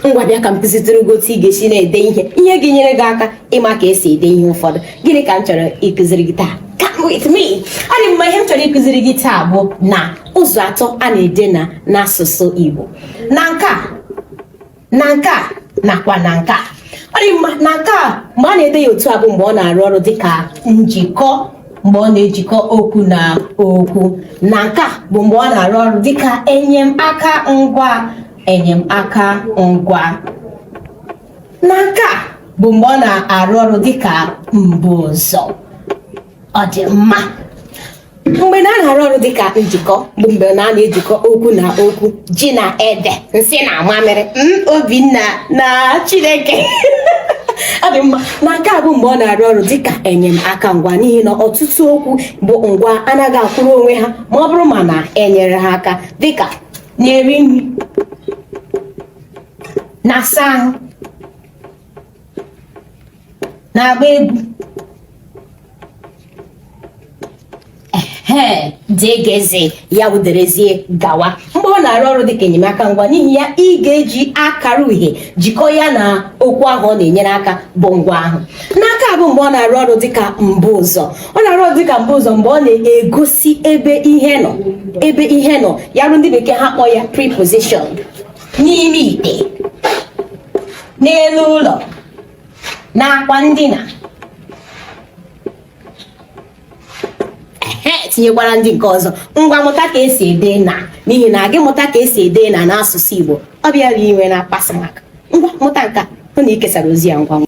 ngwa bịa ka m kụzitụrụ gị otu ị ga-esi na-ede ihe ihe ga-enyere gị aka ịma ka esi ede ihe ụfọdụ gịnị ka m chọrọ ịkụziri gị taa come with me ọ dị mma ihe m chọrọ ịkụziri gị taa bụ na ụzọ atọ a na-ede na n'asụsụ Igbo na nke a na nke a nakwa na nke a ọ dị mma na nke a mgbe a na-ede ya otu a bụ mgbe ọ na-arụ ọrụ dịka njikọ mgbe ọ na-ejikọ okwu na okwu na nke a bụ mgbe ọ na-arụ ọrụ dịka enyemaka ngwa enyemaka ngwa na nke a bụ mgbe ọ na-arụ ọrụ dịka mbuụzọ ọ dị mma mgbe na na-arụ ọrụ dịka njikọ bụ mgbe na na-ejikọ okwu na okwu ji na ede nsị na mamịrị obinna na chineke ọ dị mma na nke a bụ mgbe ọ na-arụ ọrụ dịka enyemaka ngwa n'ihi na ọtụtụ okwu bụ ngwa anaghị akwụrụ onwe ha ma ọ bụrụ ma na enyere ha aka dịka na-eri nri na-asa ahụ na-agba egwu ee dgz ya wụ derezie gawa mgbe ọ na-arụ ọrụ dịka enyemaka ngwa n'ihi ya ị ga-eji akara uhie jikọọ ya na okwu ahụ ọ na-enyere aka bụ ngwa ahụ na nke a bụ mgbe ọ na-arụ ọrụ dịka mbuụzọ ọ na-arụ ọrụ dịka mbuụzọ mgbe ọ na-egosi ebe ihe nọ ebe ihe nọ ya ruo ndị bekee ha kpọọ ya preposition n'ime ite n'elu ụlọ n'akwa ndina tinyekwara ndị nke ọzọ ngwa mụta ka esi ede na n'ihi na gị mụta ka esi ede na n'asụsụ Igbo ọ bịara inwe na akpasị maka ngwa mụta nke a hụ na ị kesara ozi a ngwa ngwa